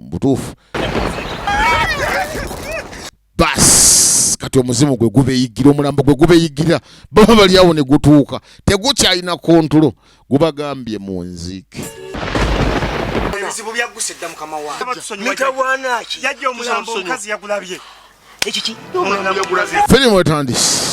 butuufu bas kati omuzimu gwe gubeyigira omulambo gwe gubeyigira baba bali awo ne gutuuka tegukyalina kontulo gubagambye mu nziike ebizibu byagguse dda mukama wangemitawanaki yajja omulambo omukazi yagulabye ekiki firimu etandise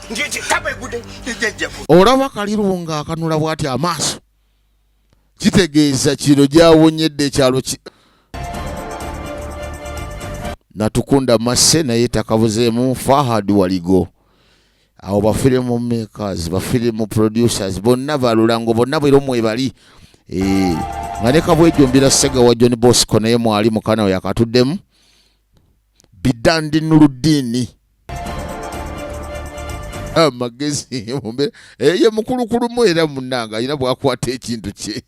olaba kaliru nga akanula bwati amaaso kitegeeza kino gyawonyedde ekyalo ki natukunda masse naye takabuzeemu fahad waligo awo bafirimu makers bafirimu producers bonna balulango bonna bwera omwebali eh, nga ne kabwejumbira segawa john bosco naye mwali mukana we yakatuddemu bidandi nuludiini amagezi mumbeera eh, ye mukulukulumu era munanga alina bwakwata ekintu kye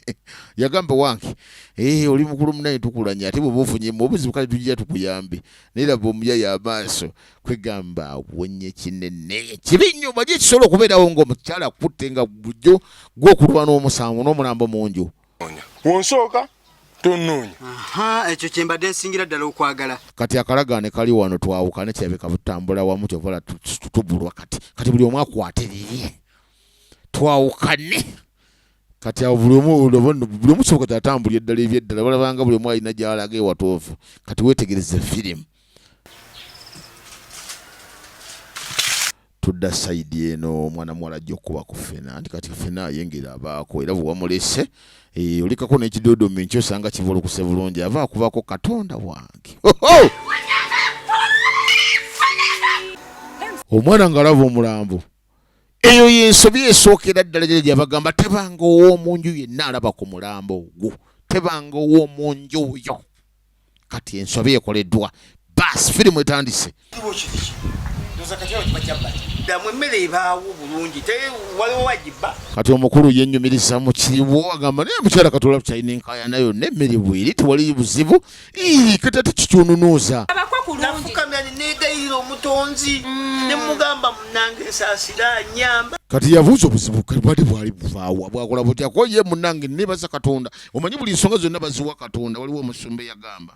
yagamba wange eh, oli mukulu munaye tukulanya ate bweba ofunyemu obuzibu kale tujja tukuyambe naye laba omuyaya amaaso kwegamba awonye kinene kibi nnyo baje kisobola okubeerawo ngaomukyala akutte nga bujjo gwokulwana omusango n'omulambo munju wonsooka tonoonya ekyo kyembadde nsingira ddala okwagala kati akalagaane kali wano twawukane kirabika butambula wamu kyovala tubulwa kati kati buli omu akwate liye twawukane kati awo buli omu buli omu kisoboka kyatambulira eddala ebyeddala balabanga buli omu alina gyalaga ewatoovu kati wetegereze firimu tudda side eno omwana muwala ajja okukuba ku fena nti kati fena ayengera abaako era bwewamulese eh, olikako nekidodomi nkyo osanga kivolokuse bulungi ava akubako katonda wange omwana ngaalaba omulambo eyo yensobi esookera ddala gyera gyabagamba tebanga ow'omunju yenna alaba ku mulambo ogwo tebanga ow'omunju oyo kati ensobi ekoleddwa baasi firimu etandise kati omukulu yenyumiriza mu kiriwo agamba naye mukyala katola tukyalina enkayana yonna emmere bweri tewali buzibu kati ate kitununuuza kati yabuuza obuzibu bwali bwali buvaawa bwakola butya ko ye munange nebaza katonda omanyi buli nsonga zonna baziwa katonda waliwo omusumba eyagamba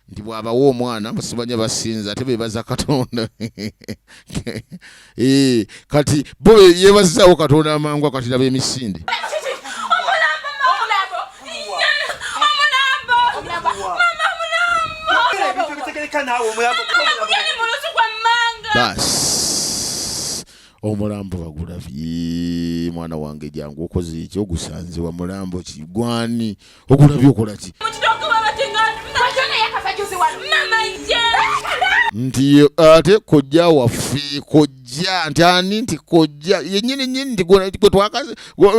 nti bwabawa omwana basibanya basinza ate bebaza katonda eh, kati bo yebazaawo katonda amangwa kati laba emisinde omulambo bagulabye mwana wange jangu okoze eki ogusanze wa mulambo ki gwani ogulabye okola ki nti ate kojja waffe kojja nti ani nti kojja yenyini nyini nti gwe twakaze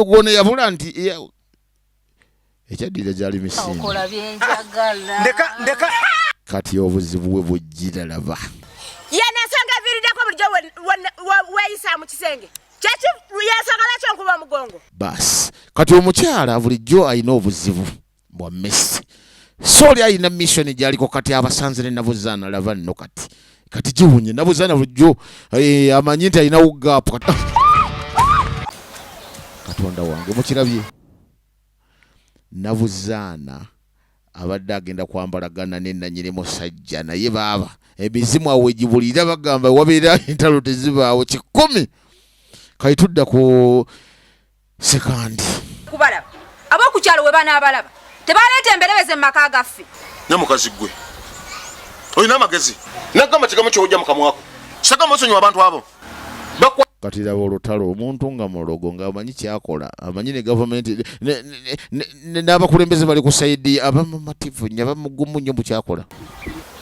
gwona yabula nti ekyaddirira gyali misingiati obuzibu bwe bujjira laba yenesanga eviiriddeko bulijjo weeyisa mu kisenge kyekiyensanga lwaki onkuba omugongo baasi kati omukyala bulijjo alina obuzibu bwa messi so oli alina missioni gyaliko kati abasanze ne nabuzaana laba nno kati kati giwunye nabuza nabujo eh, amanyi nti alinawo gaapu ah! katonda wange mukirabye nabuzaana abadde agenda kwambalagana nenanyini musajja naye baaba emizimu awo egibulira bagamba wabeera entalo tezibaawo kikumi kati tudda ku sekandi kubalaba abokukyalo we banaabalaba tebaleeta emberebeze mu maka gaffe nye mukazi gwe olina amagezi nagamba kigamu kyoja mukamwako sagamba osonyiwa abantu abo kati laba olutalo omuntu nga mulogo ngaamanyi kyakola amanyi ne gavumenti n'abakulembeze bali ku saidi abamumativu nyo abamugumu nyo mukyakola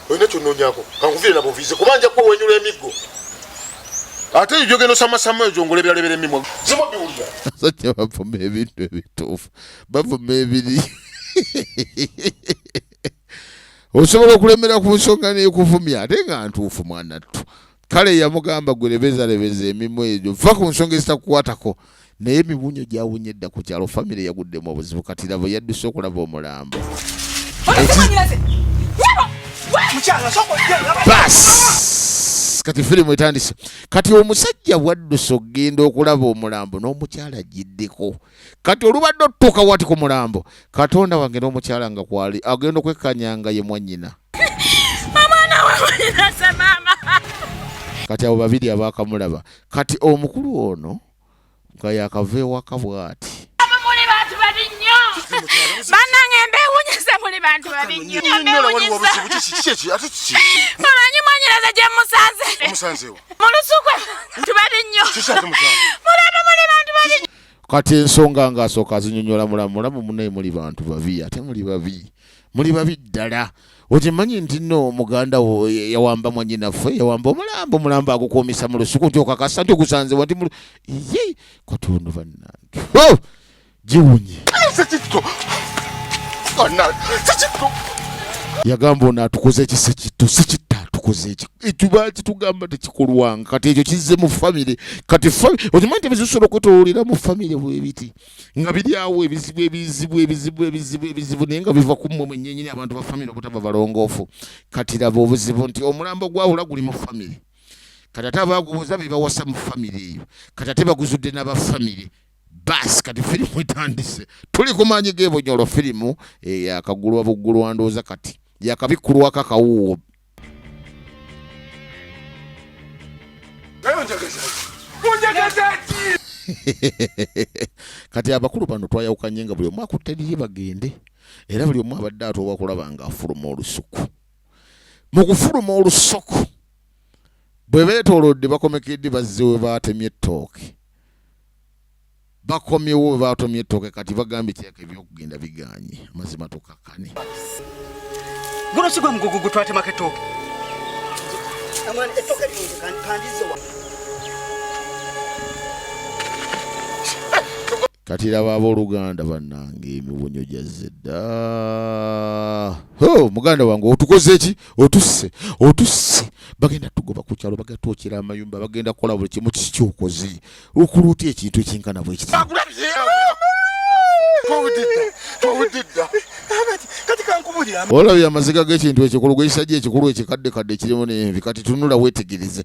olina kyononyako kankuvire nabuvize kuba nja kuba wenyula emiggo ate eyo gyogenda osamasama eyo gyongola ebirala ebira emimwa zimu biwulira sajja bavuma ebintu ebituufu bavuma ebiri osobola okulemera ku nsonga nekuvumya ate nga ntuufu mwanattu kale yamugamba gwe lebezalebeza emimwa egyo va ku nsonga ezitakukwatako naye emibunyo gyawunye edda ku kyalo famire yaguddemu obuzibu kati labo yadduse okulaba omulambo kati firimu etandise kati omusajja bwadduse okugenda okulaba omulambo n'omukyala agiddeko kati olubadde otutuuka wati ku mulambo katonda wange n'omukyala nga kwali agenda okwekkanya nga ye mwanyina kati abo babiri abaakamulaba kati omukulu ono nga yakava ewaka bwati banange mbewunyisa muli bantu babi nnyo mumanyi mwanyiraza gye musanze mu lusuku tubali nnyo mulaba muli bantu babi kati ensonga nga asooka azinyonyola mulamu mulamu munaye muli bantu babi ate muli babi muli babi ddala okimanyi nti no muganda wo yawamba mwanyinaffe yawamba omulambo omulambo agukuumisa mu lusuku nti okakasa nti ogusanze wati mu ye katundu bannange oh! giwunye yagamba ono atukoze ekisi kitto si kitta atukoze ekik ekibaki tugamba tekikolwanga kati ekyo kizze mu famire kati okimanyi nti ebizibu sobola okwetololera mu famire bwebiti nga biri awo ebizibu ebizibu ebizibu ebizibu ebizibu naye nga biva ku mmwe mwenyenyini abantu ba famire obutaba balongoofu kati laba obuzibu nti omulambo gwawula guli mu famire kati ate abagubuuza bebawasa mu famire eyo kati ate baguzudde n'aba famire bas kati firimu etandise tuli ku maanyi g'ebonyolo firimu eyakagulwa eh, buggulwa ndowooza kati yakabikkulwako akawuuwo kati abakulu bano twayawukanye nga buli omu akutte liri bagende era buli omu abadde atooba kulaba nga afuluma olusuku mu kufuluma olusuku bwe beetoolodde bakomekedde bazze we baatemye ettooke bakomyewo webatomye ettooke kati bagambye kyaka ebyokugenda biganye amazima tukakkane guno sigwe mugugu gutwatemako ettooke kati laba abooluganda bannange emibunyo gyazze dda muganda wange otukoze eki otusse otusse bagenda tugoba ku kyalo bagenda twokera amayumba bagenda kukola buli kimu kiki kyokoze okola otya ekintu ekinkana bwekiti olabye amaziga g'ekintu ekyo ku lugwe ekisajja ekikulu ekikaddekadde ekirimu n'envi kati tunula weetegereze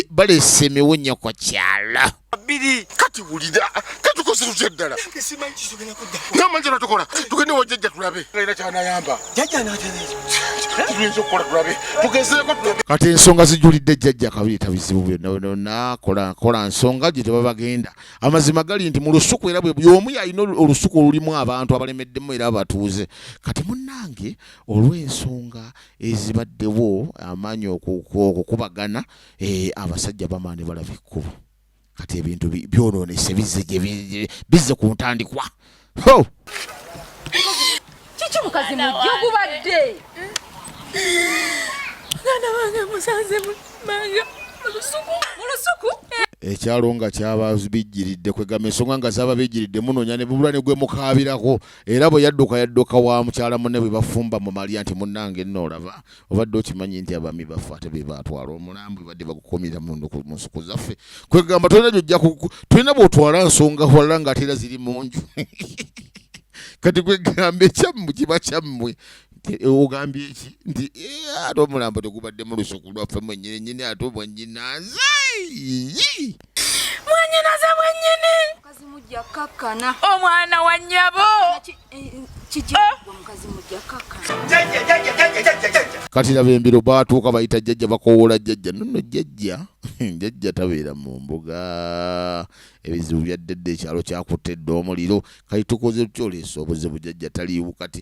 baleese emiwunya kwa kyala bbiri kati wulira katukoze tutya ddala namanjala tukola tugende wajjajja tulabe alina kyanayamba kati ensonga zijulidde jjajja kabiita bizibu byonakola nsonga gye tebabagenda amazima gali nti mu lusuku era bweyomu yalina olusuku olulimu abantu abalemeddemu era abatuuze kati munange olw'ensonga ezibaddewo amaanyi okukubagana eh, abasajja bamaani balaba ekkubo kati ebintu byononese bizze bizze ku ntandikwa kiki mukazi mujjo gubadde mwana wange musanze mumanga mulusuku mulusuku ekyalo nga kyababijjiridde kwegamba ensonga nga zababijjiridde munonya ne bubula ne gwe mukaabirako era bwe yadduka yadduka wa mukyala munne bwe bafumba mu malya nti munnange nno olaba obadde okimanyi nti abami baffe ate bebatwala omulambo ebadde bagukomira munsuku zaffe kwegamba tolina gyojja tolina bwotwala nsonga wala nga ate era ziri munju kati kwegamba ekyammwe kiba kyammwe Eh, ogambye ki nti eh, ate omulambo tegubadde mu lusuku lwaffe mwenyini nyini ate obwenyinaze mwanyinaze mwenyini omwana wa nyabo kati laba embiro batuuka bayita jjajja bakowoola jjajja nono jjajja jjajja tabeera mu mbuga ebizibu byaddedde ekyalo kyakutte dde omuliro kati tukoze tutya oleesa obuzibu jjajja taliiwo kati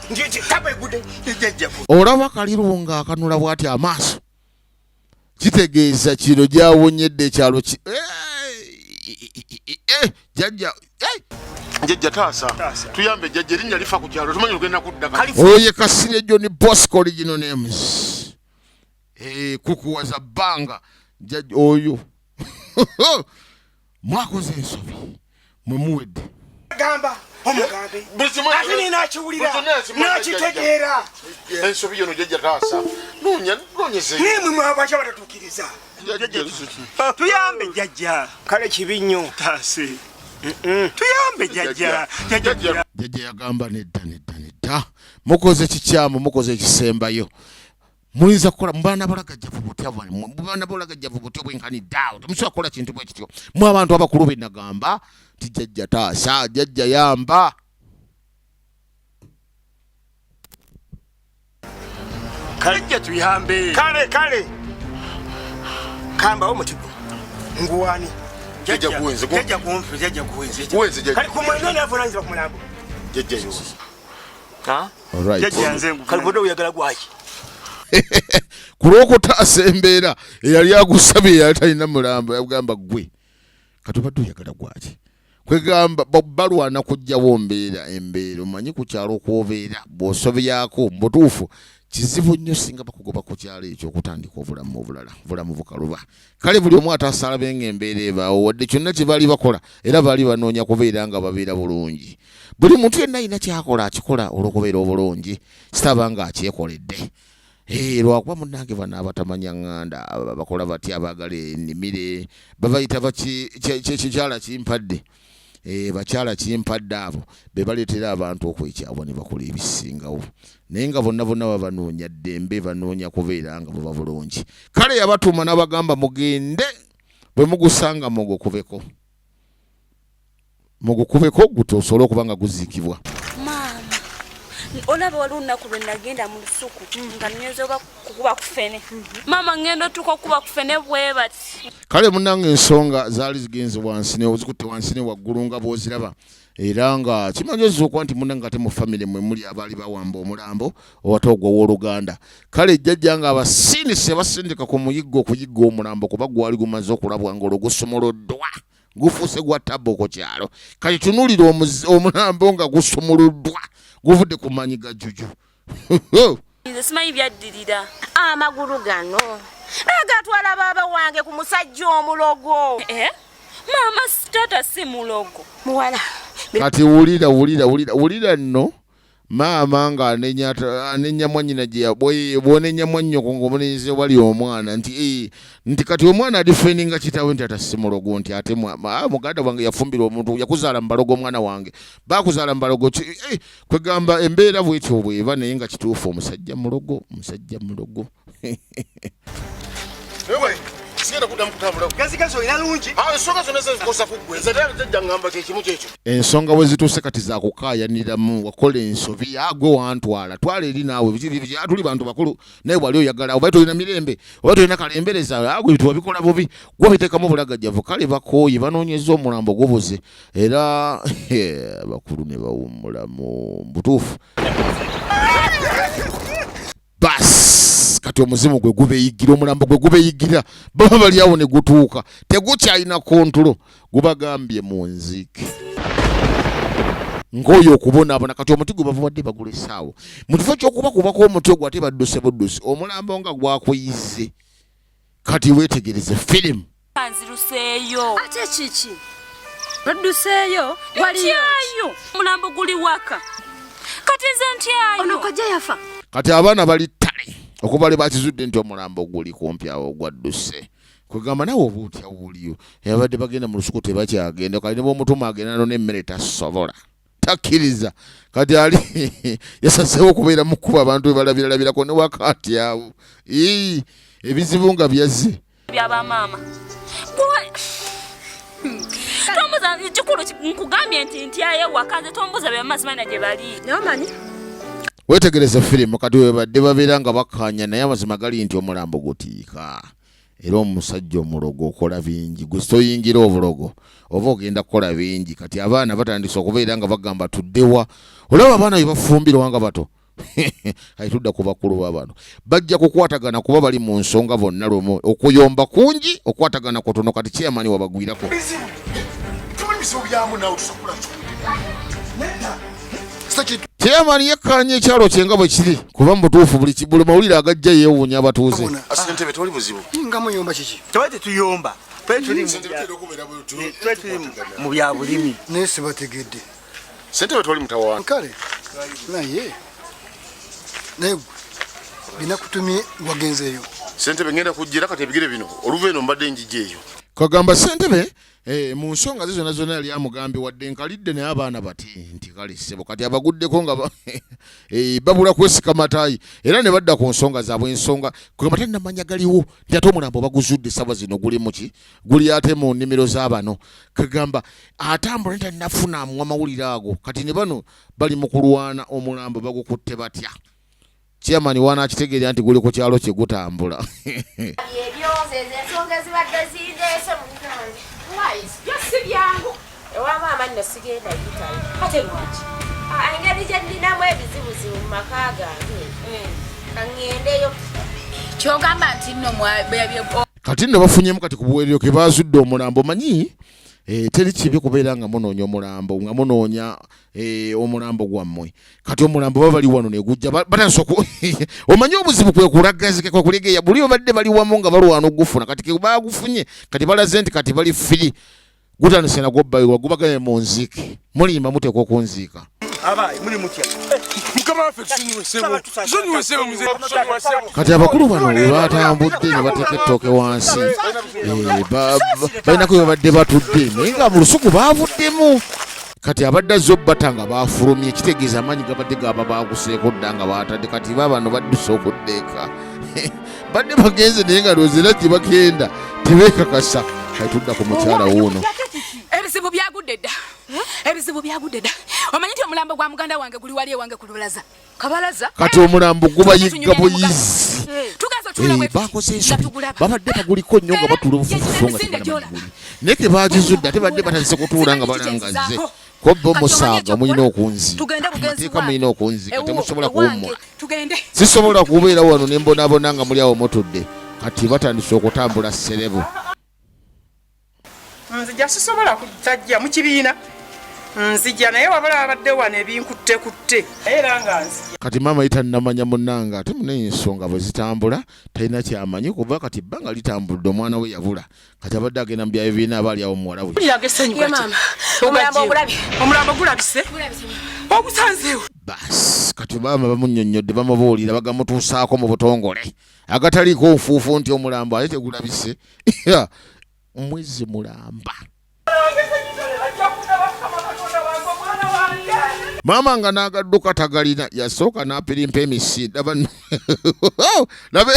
olaba kaliru nga akanula bwati amaaso kitegeeza kino gyawonyedde ekyalo ki jajja jajja taasa tuyambe jajja erinnya lifa ku kyalo tumanyi ogenda kudda oyo ye kasirye joni bosco original names eh, kukuwaza bbanga jajja oyo mwakoze ensobi mwe muwedde gamba omugambe ate ni nakiwulira nakitegeera ensobi yono jajja taasa nonya nonyeze nemwe mwabakya batatukiriza tuyambe jajja kale kibi nnyo taase tuyambe jajja jajja yagamba nedda nedda nedda mukoze kikyamu mukoze ekisembayo muyinza kukola mubaana bolagajjavu butya mubaana bolagajjavu butya obwenkanidde awo temusobola kukola kintu bwe kityo mu abantu abakulu be nagamba nti jajja taasa jajja yamba kale jja tuyambe kale kale kambawo mutigo nguwani jajja kuwenze jajja kuwenze jajja kuwenze kale kumwenene avunanyizibwa ku mulambo jajja yozi ku lwokutaasa embeera eyali agusabye eyali talina mulambo yagamba gwe katubadde oyagala gwaki kwegamba balwana kujjawo mbeera embeera omanyi ku kyalo kwobeera bwosobyako mubutuufu kizibu nnyo singa bakugoba ku kyalo ekyo okutandika obulamu obulala obulamu bukaluba kale buli omu atasalabe nga embeera ebaawo wadde kyonna kye baali bakola era baali banoonya kubeera nga babeera bulungi buli muntu yenna alina kyakola akikola olw'okubeera obulungi sitaba nga akyekoledde eh, lwakuba munange bano abatamanya ŋŋanda bakola batya abaagala enimire babayita bakikyala kimpadde eh, bakyala kimpadde abo bebaleetera abantu okwekyabwa ne bakola ebisingawo naye nga bonna bonna babanoonya ddembe banoonya kubeera nga buba bulungi kale yabatuuma n'abagamba mugende bwe mugusanga mugukubeko mugukubeko guto osobole okuba nga guziikibwa maama olaba waliwo olunaku lwe nagenda mu lusuku nga nnyonza oba kukuba kufene mama ngendo tuko kuba kufene bwebati kale munange ensonga zali zigenze wansi ne ozikutte wansi ne waggulu nga bwoziraba era nga kimanyiza okuba nti munange ate mu famire mwe muli abaali bawamba omulambo owate ogwo ow'oluganda kale ejjajja nga abasindise basindika ku muyiggo okuyigga omulambo kuba gwali gumaze okulabwa nga olwo gusumuluddwa gufuuse gwa tabbo ku kyalo kati tunuulira omulambo nga gusumuluddwa guvudde ku maanyi ga juju nze simanyi byaddirira amagulu gano agatwala baaba wange ku musajja omulogo eh? maama taata si mulogo muwala kati wulira wulira wulira wulira nno maama nga anenya mwanyina gyebwonenya mwanyoko ngaomulenzi wali omwana nti eh, nti kati omwana adifeninga kitawe nti atasimulogo nti ate ah, muganda wange yafumbira omuntu yakuzaala mubalogo omwana wange bakuzaala mubalogo eh, kwegamba embeera bwetyo bweba naye nga kituufu omusajja mulogo omusajja mulogo ensonga bwe zituuse kati zakukaayaniramu wakola ensobi agwe wantwala twala eri naawe tuli bantu bakulu naye wali oyagala oba tolina mirembe oba tolina kalembereza agwe wabikola bubi gwabiteekamu bulagajjavu kale bakooye banoonyeza omulambo gubuze era abakulu ne bawummulamu butuufu bas kati omuzimu gwe gubeyigira omulambo gwe gubeyigira baba baliawo ne gutuuka tegukyalina kontulo gubagambye mu nziike ng'oyo okubonaabona kati omuti gwe bavubadde bagula essaawo mu kifo ky'okubakubako omutwe gwe ate badduse buddusi omulambo nga gwakuyizze kati wetegereze filimu anziruseeyo ate kiki odduseeyo waliyo omulambo guli waka kati nze ntyayo ono kojja yafa kati abaana bali ttale okuva lwe bakizudde nti omulambo guli kumpi awo gwadduse kwegamba nawe oba otya wuliyo yabadde bagenda mu lusuku tebakyagenda kali ne bwomutuma agenda nona emmere tasobola takkiriza kati ali yasazeewo okubeera mu kkuba abantu bwe balabiralabirako ne wakaati awo ebizibu nga byazze byabamaama tombuza kikulu nkugambye nti ntyayo ewaka nze tombuza byamazimana gye bali namanyi wetegereze firimu kati webadde babeera nga bakkaanya naye amazima gali nti omulambo gutiika era omusajja omulogo okola bingi gwe soyingira obulogo oba ogenda kukola bingi kati abaana batandise okubeera nga bagamba tuddewa olaba abaana bebafumbirwa nga bato kati tudda ku bakulu babano bajja kukwatagana kuba bali mu nsonga bonna lwomu okuyomba kungi okwatagana kutono kati kyeyamani wabagwirako Chairman yekkaanya ekyalo kye nga bwe kiri kuba mu butuufu buli buli mawulire agajja yeewuunya abatuuze. Ssentebe tewali buzibu. Nga muyomba kiki? Tewali tetuyomba. Twetuli mu bya bulimi. Naye sibategedde. Ssentebe tewali mutawaana. Kale naye naye binakutumye wagenzeeyo. Ssentebe ngenda kujjira kati ebigere bino oluva eno mbadde njija eyo. Kagamba ssentebe Eh, mu nsonga ze zonna zonna yali amugambye wadde nkalidde naye abaana bati nti kale ssebo kati abaguddeko nga eh, babula kwesika matayi era ne badda ku nsonga zaabwe ensonga kwebata namanya galiwo nti ate omulambo baguzudde saba zino guli muki guli ate mu nnimiro z'abano kagamba atambula nti anafuna amuwa amawulire ago kati ne bano bali mu kulwana omulambo bagukutte batya chairman wanaakitegeera nti guli ku kyalo kye gutambula ebyoze ezo ensonga ezibadde zindeese munange wise byo si byangu ewa maama nno sigenda yitayo kate lwaki ah, engeri gye nninamu ebizibuzibu mu maka gange eh. kaŋŋendeyo kyogamba nti nno kati nno bafunyemu kati ku buweerero ke baazudde omulambo manyi eh, teri kibi kubeera nga munoonya omulambo nga munoonya Eh, omulambo gwammwe kati omulambo baba bali wano negujja batandisa omanyi obuzibu kwekulagazikwekulegeya buli obadde bali wamu nga balwana okugufuna kati bagufunye kati balaze nti kati bali firi gutandise nagwo bayiwa gubagane mu nziike mulimba muteekwa okunziika kati abakulu bano webatambudde ne bateeka ettooke wansi eh, balinako webabadde batudde naye nga mu lusuku bavuddemu kati abadde azze obbata nga baafulumye kitegeeza amaanyi gabadde gaba baaguseeko dda nga baatadde kati ba bano badduse okuddeeka badde bagenze naye nga lwozi era gye bagenda tebeekakasa kati tudda ku mukyala wuuno ebizibu byagudde dda ebizibu byagudde dda omanyi nti omulambo gwa muganda wange guli wali ewange ku lubalaza kabalaza kati omulambo gubayigga buyizi eh, eh, bakoze ensobi babadde baguliko nnyo nga batuula obufufufu nga tebanamaguli naye kebagizudde ate badde batandise kutuula nga balangazze kobba omusaaga mulina okunziteeka mulina okunzika temusobola kuwummula sisobola kubeera wano ne mbonaabona nga muli awo mutudde kati batandise okutambula serebu nzija sisobola kutajja mu kibiina nzija naye wabala babadde wano ebinkutte kutte era nga nzija kati maama yita namanya munange ate munaye ensonga bwe zitambula talina kyamanyi kuba kati bbanga litambudde omwana we yabula kati abadde agenda mu byayo birina abaali awo muwala we omulambo gulabise ogusanzeewo basi kati maama bamunyonnyodde bamubuulira bagamutuusaako mu butongole agataliiko nfuufu nti omulambo ate tegulabise mwezi mulamba maama nga n'agadduka tagalina yasooka n'apirimpa emisi laba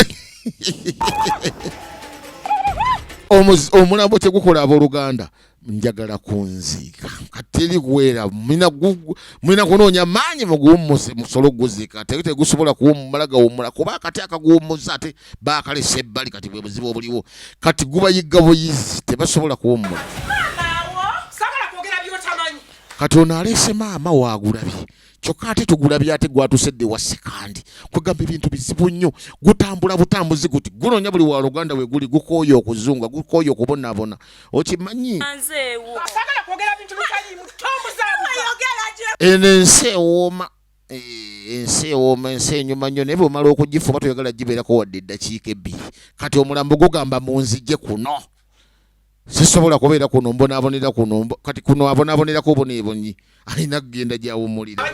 omulambo tegukola abooluganda njagala kunziika kateri kuweera mulina kunoonya maanyi muguwummuse musole okuguziika teri tegusobola kuwummula gawummula kuba akati akaguwummuza ate baakalesa ebbali kati bwe buzibu obuliwo kati gubayigga buyizi tebasobola kuwummula kati ono aleese maama waagulabye kyokka ate tugulabye ate gwatusedde wa sekandi kwegamba ebintu bizibu nnyo gutambula butambuzi guti gunoonya buli wa luganda we guli gukooye okuzunga gukooye okubonaabona okimanyi eno ensi ewooma eh, ensi ewooma ensi enyuma nnyo naye bwemala okugifuba toyagala gibeerako wadde eddakiika ebbiri kati omulambo gugamba munzije kuno sisobola kubeera kuno mbonaabonera kuno kati kuno abonabonerako oboneebonyi alina kugenda gyawumulira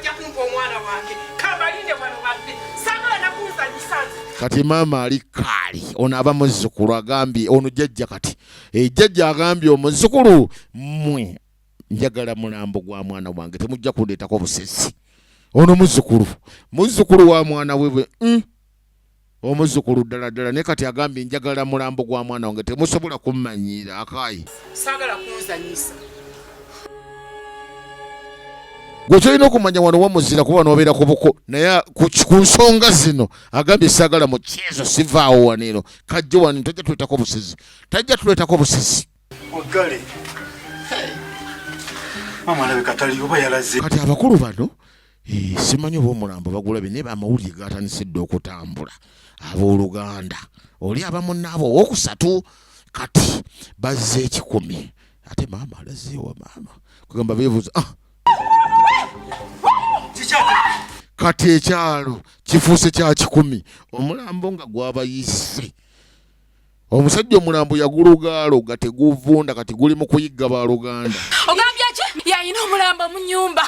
kati maama ali kaali ono aba muzzukulu agambye ono jajja kati ejajja eh, agambye omuzzukulu mwe njagala mulambo gwa mwana wange temujja kundeetako busesi ono muzzukulu muzzukulu wa mwana webwe mm. omuzukulu ddala ddala naye kati agambye njagala mulambo gwa mwana wange temusobola kummanyiira akaayi saagala kunzanyisa gwe kyolina okumanya wano wamuzira kuba nobeera ku buko naye ku nsonga zino agambye saagala mu kyezo sivaawo waneno kajjo wano tajja tuletako busizi tajja tuletako busizi waggale maama alabika taliyo oba yalaze kati abakulu bano eh, simanyi oba omulambo bagulabe naye amawulire gatandise dda okutambula abooluganda oli abamunaabo owokusatu kati bazze ekikumi ate maama alazeewa maama kugamba beebuuza ah! kati ekyalo kifuuse kya kikumi omulambo nga gwabayise omusajja omulambo yagulugaaloga teguvunda kati guli mu kuyigga baluganda ogambye ki yalina omulambo mu nyumba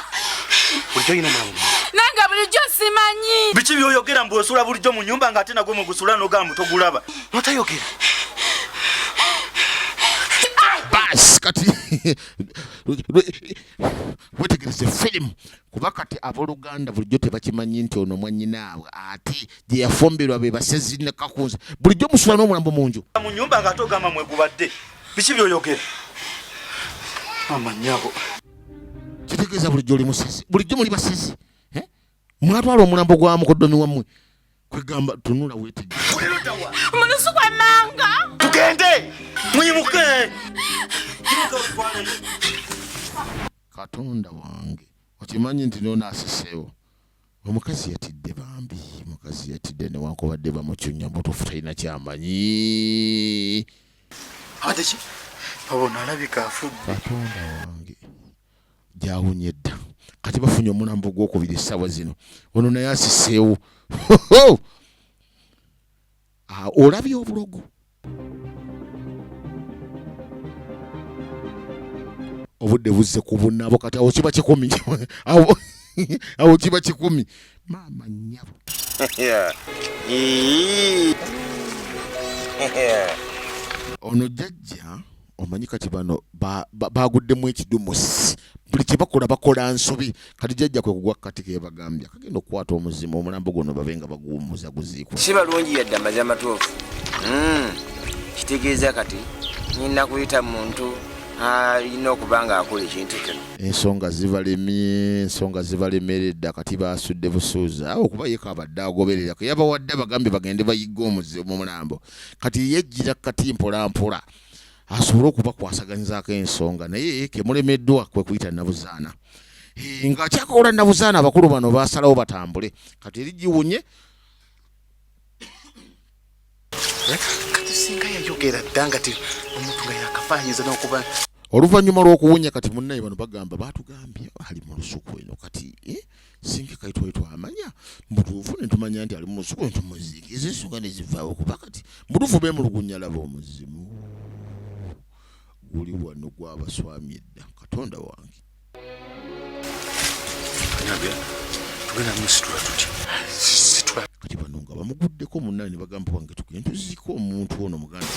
nange bulijjo simanyi biki byoyogera mbu osula bulijjo mu nyumba nga ate nagwe mugusula nogamba togulaba notayogera bas kati wetegereze firimu kuba kati aboluganda bulijjo tebakimanyi nti ono mwanyinaabwe ate gye yafumbirwa be basezi ne kakunza bulijjo musula n'omulambo mu nju mu nyumba nga ate ogamba mwegubadde biki byoyogera amanyabo kitegeeza bulijjo oli musezi bulijjo muli basezi eh? mwatwala omulambo gwa mukodomi wammwe kwegamba tunula wetegemunusu gwamanga tugende mwimuke Katonda wange okimanyi nti nono asiseewo omukazi yatidde bambi mukazi yatidde newankubadde bamucunya mutuufu talina kyamanyi adeki babona alabika afudde katonda wange gyawunye dda kati bafunye omulambo gwokubiri essaawa zino ono naye asiseewo Ah, olabye obulogo obudde buzze ku bunabo kati awo kiba kikumi awo kiba kikumi maama nyabo ono jajja omanyi kati bano baguddemu ekidumusi buli kyebakola bakola nsobi kati jajja kwe kugwa kati kebagambye kagenda okukwata omuzima omulambo guno babe nga baguwumuza guziikwa si balungi yadde amazi amatuufu hmm, kitegeeza kati nyina kuyita muntu alina okuba nga akola ekintu kino ensonga zibalemye ensonga zibalemeredda kati basudde busuuza awo okuba yeka abadde agoberera keyabawadde abagambye bagende bayigga omuzi mu mulambo kati yejjira kati mpolampola asobole okubakwasaganyizaako ensonga naye kemulemeddwa kwe kuyita nabuzaana eh, nga akyakola nabuzaana abakulu bano basalawo batambule kati eri giwunye oluvannyuma lw'okuwunya kati munnaye bano bagamba batugambye ali mu lusuku eno kati eh? singa kati twali twamanya mubutuufu netumanya nti ali mumusuku netumuziika ezo ensonga nezivaawo kuba kati mubutuufu bemulugunya laba omuzimu guli wano gwabaswami edda katonda wange kati bano nga bamuguddeko munana ne bagamba wange tugende tuziika omuntu ono muganda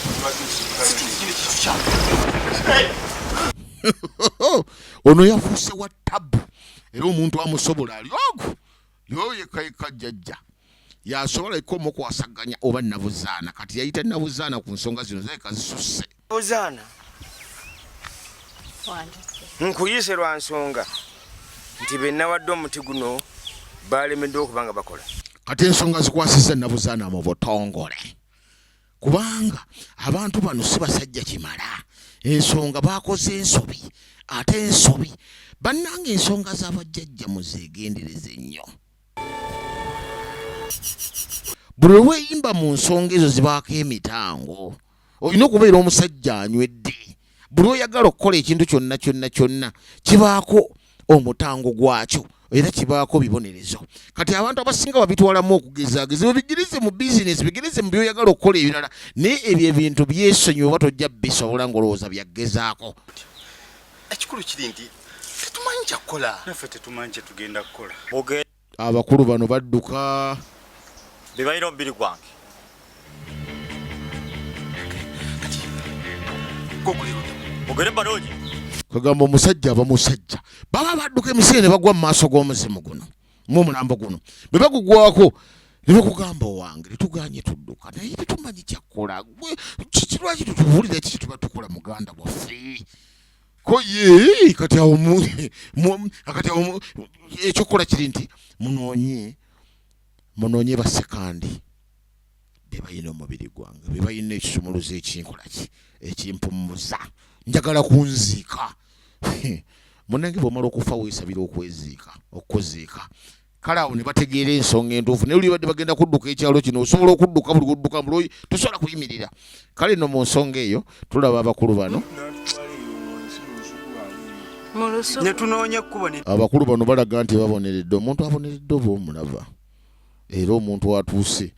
ono yafuuse wa tabu era omuntu amusobola ali ogu yoyo yekka yekka jjajja yasobola yekka omukwasaganya oba nabuzaana kati yayita nabuzaana ku nsonga zino zayeka zisusse buzaana nkuyise lwa nsonga nti benawadde omuti guno balemeddwa okuba nga bakola kati ensonga zikwasiza nabuzaana mu butongole kubanga abantu bano si basajja kimala ensonga bakoze ensobi ate ensobi bannanga ensonga z'abajjajja muzeegendereze nnyo buli lweyimba mu nsonga ezo zibaako emitango olina okubeera omusajja anywedde buli oyagala okukola ekintu kyonna kyonna kyonna kibaako omutango gwakyo era kibaako bibonerezo kati abantu abasinga babitwalamu okugezaageza ebyo bigirize mu bizinesi bigirize mu byoyagala okukola ebirala naye ebyo ebintu byesonyi oba tojja bisobola ngaolowooza byagezaako ekikulu kiri nti tetumanyi kyakukola naffe tetumanyi kyetugenda kukola abakulu bano badduka bebalina omubiri gwange ogere baloogi kagamba omusajja aba musajja baba badduka emisiri ne bagwa mu maaso g'omuzimu guno mu omulambo guno bwe bagugwako ne bakugamba owange tetuganye tudduka naye tetumanyi kyakkola kiki lwaki tutubuulira ekiki tuba tukola muganda waffe ko ye kati awo mu akati awo ekyokukola kiri nti munoonye munoonye basekandi be balina omubiri gwange be balina ekisumuluzo ekinkola ki ekimpumuza njagala kunziika munange bwomala okufa weesabira okweziika okuziika kale awo ne bategeera ensonga entuufu naye olibadde bagenda kudduka ekyalo kino osobola okudduka buli kudduka mbuloyi tosobola kuyimirira kale no mu nsonga eyo tulaba abakulu bano abakulu bano balaga nti baboneredde omuntu aboneredde oba omulaba era omuntu atuuse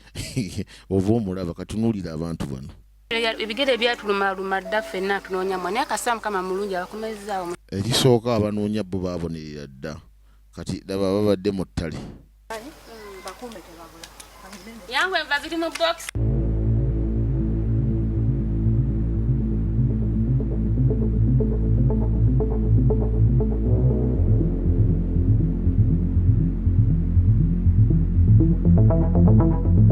oba omulaba katunuulira abantu bano ebigere ebyatulumaluma dda ffenna tunoonya mwa naye kasita mukama mulungi abakomezaawo erisooka abanoonya bo babonerera dda kati laba babadde mu ttale yangu enva ziri mu box